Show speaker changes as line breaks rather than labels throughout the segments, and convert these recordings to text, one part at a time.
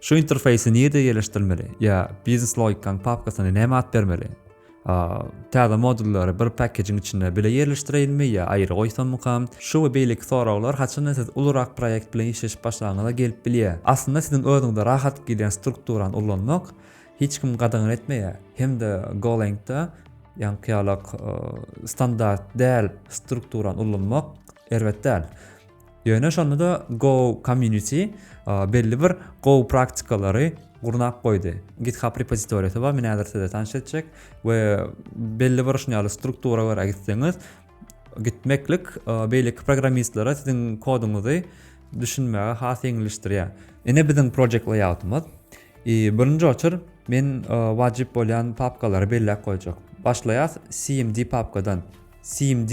Şu interfeýsi nirde ýerleşdirmeli? Ýa biznes logikaň papkasyna näme at bermeli? Täze modullary bir pakejiň içinde bile ýerleşdireýinmi ýa aýry goýsammykam? Şu we beýleki soraglar haçanda siz ulurak proýekt bilen işleşip başlanyňyzda gelip bilýär. Aslynda siziň özüňize rahat gelýän strukturany ullanmak hiç kim gadagan etmeýär. Hem-de Golang-da ýaňkyýalak standart däl strukturany ullanmak erbet däl. Ýöne şonda-da Go Community belli bir Go praktikalary gurnap goýdy. GitHub repozitoriýasy bar, men häzir size tanş etjek we belli bir şuny ýaly struktura görä gitseňiz, gitmeklik beýleki programmistlere siziň koduňyzy düşünmäge has ýeňilleşdirýär. Ine biziň project layoutymyz. Birinji oçur men wajyp bolýan papkalary belläp goýjak. Başlaýas CMD papkadan. Cmd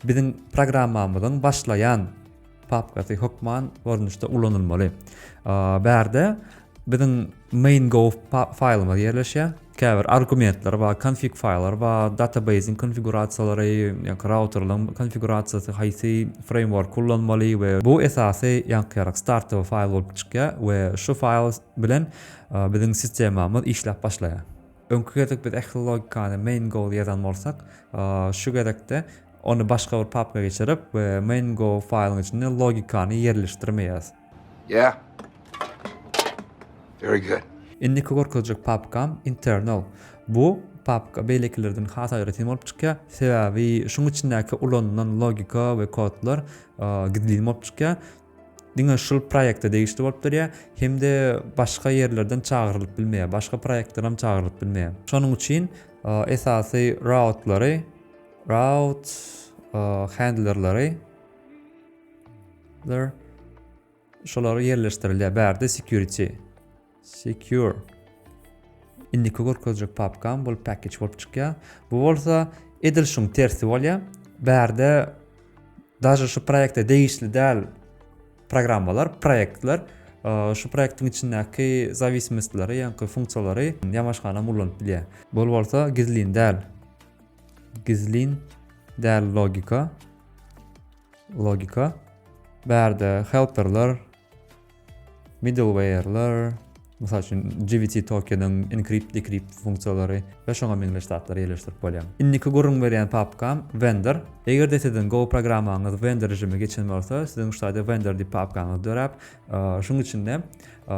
biziň programmamyzyň başlaýan papkasy hökman görnüşde ulanylmaly. Bärde biziň main.gov faýlymyz ýerleşýär. Käbir argumentler bar, konfig faýllar bar, database'iň konfigurasiýalary, ýa-da routerlaryň konfigurasiýasy, haýsy framework ulanmaly we bu esasy ýaňkyýarak startowy faýl bolup çykýar we şu faýl bilen biziň sistemamyz işläp başlaýar. Öňki gezek biz ähli logikany main goal ýazan bolsak, şu gezekde ony başga bir papka geçirip we main goal faýlyň içinde logikany ýerleşdirmeýäs.
Yeah. Very good. Indiki görkezjek
papkam internal. Bu papka beýlekilerden has aýratyn bolup çykýar, sebäbi şuň içindäki ulanylan logika we kodlar gizlin bolup çykýar. diňe şul proýekte degişli bolup durýar hem-de başga ýerlerden çagyrylyp bilmeýär, başga proýektlerem çagyrylyp bilmeýär. Şonuň üçin esasy routlary, rout handlerleri şolar ýerleşdirilýär. Bärde security. Secure. Indiki görkezjek papkam bul package bolup çykýar. Bu bolsa edil şuň tersi bolýar. Bärde daže şu proýekte degişli däl programmalar, proýektler e, şu proýektiň içindäki zawismistleri, ýaňky funksiýalary ýamaşgana ulanyp bilýär. Bul bolsa gizlin däl. Gizlin däl logika. Logika. Bärde helperler, Middleware'lar, mysal üçin, JWT tokeniň enkript-dekript funksiýalary we şoňa meňzeş zatlary ýerleşdirip bolýar. Indiki gürrüň berýän papkam Vendor. Eger-de siziň Go programmaňyz Vendor režime geçen bolsa, siziň şu taýda Vendor diýip papkaňyz döräp, şuň içinde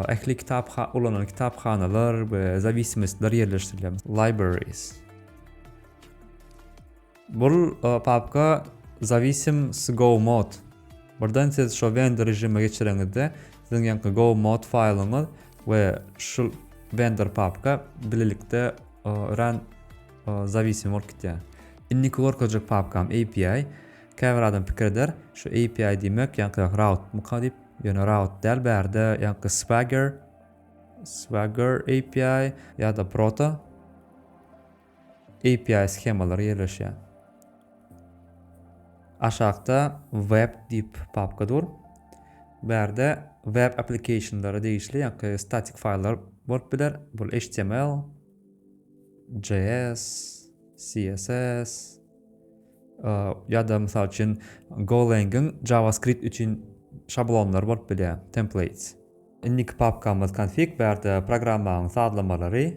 ähli kitap ulanan kitaphanalar we zawistimostlar ýerleşdirilýär. Libraries. Bul papka zawisim s go mod. Birden siz şo wend režime geçireňizde siziň ýaňky go mod faýlyňyz we şul wender papka bilelikde ören zawisim bolup gitýär. Indiki gorkuzjak papkam api. Käbir adam pikir eder şu api diýmek ýaňky raut myka diýip ýöne raut däl bärde ýaňky swagger swagger api ýada proto. API skemalary ýerleşýär. Aşakda web diýip papka dur. Bu ýerde web applicationlara degişli ýa-da statik faýllar bolup biler. Bu HTML, JS, CSS ýa-da mysal üçin Golang-yň JavaScript üçin şablonlary bolup bilýär, templates. Indiki papkamyz konfig, bu ýerde programmanyň sazlamalary,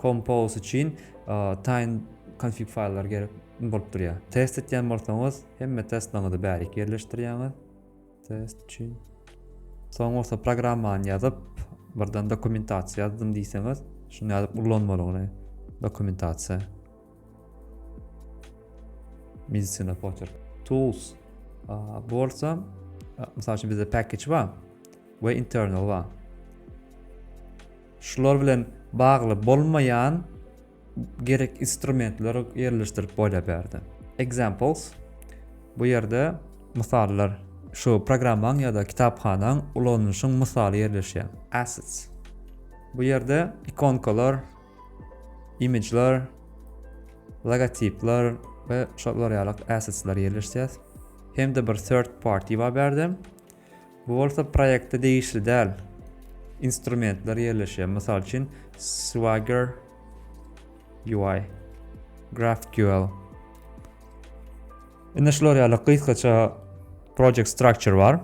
Compose üçin taýyn konfig faýllar gerek bolup durýar. Test etýän bolsaňyz, hemme testlaryňyzy bärik ýerleşdirýäňiz. Test üçin. Soň bolsa programmany ýazyp, birden dokumentasiýa ýazdym diýseňiz, şuny ýazyp ulanmalygyny dokumentasiýa. Medisina poçer. Tools. Bu bolsa, mysal üçin bizde package bar we internal bar. Şular bilen bagly bolmaýan gerek instrumentleri ýerleşdirip bolýar bu ýerde. Examples bu ýerde mysallar şu programmaň ýa-da kitaphanaň ulanylyşyň mysaly ýerleşýär. Assets bu ýerde ikonkalar, imidjler, logotipler we şolar ýaly assetsler ýerleşýär. Hem-de bir third party bar bu ýerde. Bu bolsa proýekte degişli däl instrumentler ýerleşýär. Mysal üçin Swagger UI, GraphQL. Indi şular ýaly gysgaça project structure bar.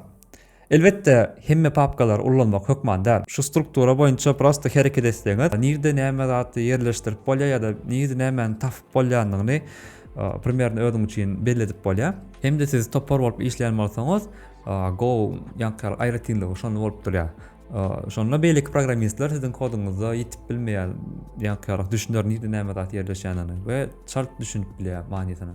Elbetde hemme papkalary ullanmak hökman däl. Şu struktura boýunça prosta hereket etseňiz, nirde näme zady ýerleşdirip bolýar ýa-da nirde nämäni tapyp bolýandygyny e, primerni özüň üçin belledip bolýar. Hem-de siz topar bolup işleýän bolsaňyz, Go ýaňky aýratynlygy şonda bolup durýar. Şonda beýleki programmistler siziň koduňyza ýetip bilmeýär. Ýaňky ýarak düşüner nirde näme zat ýerleşýänini we çalt düşünip bilýär manysyna.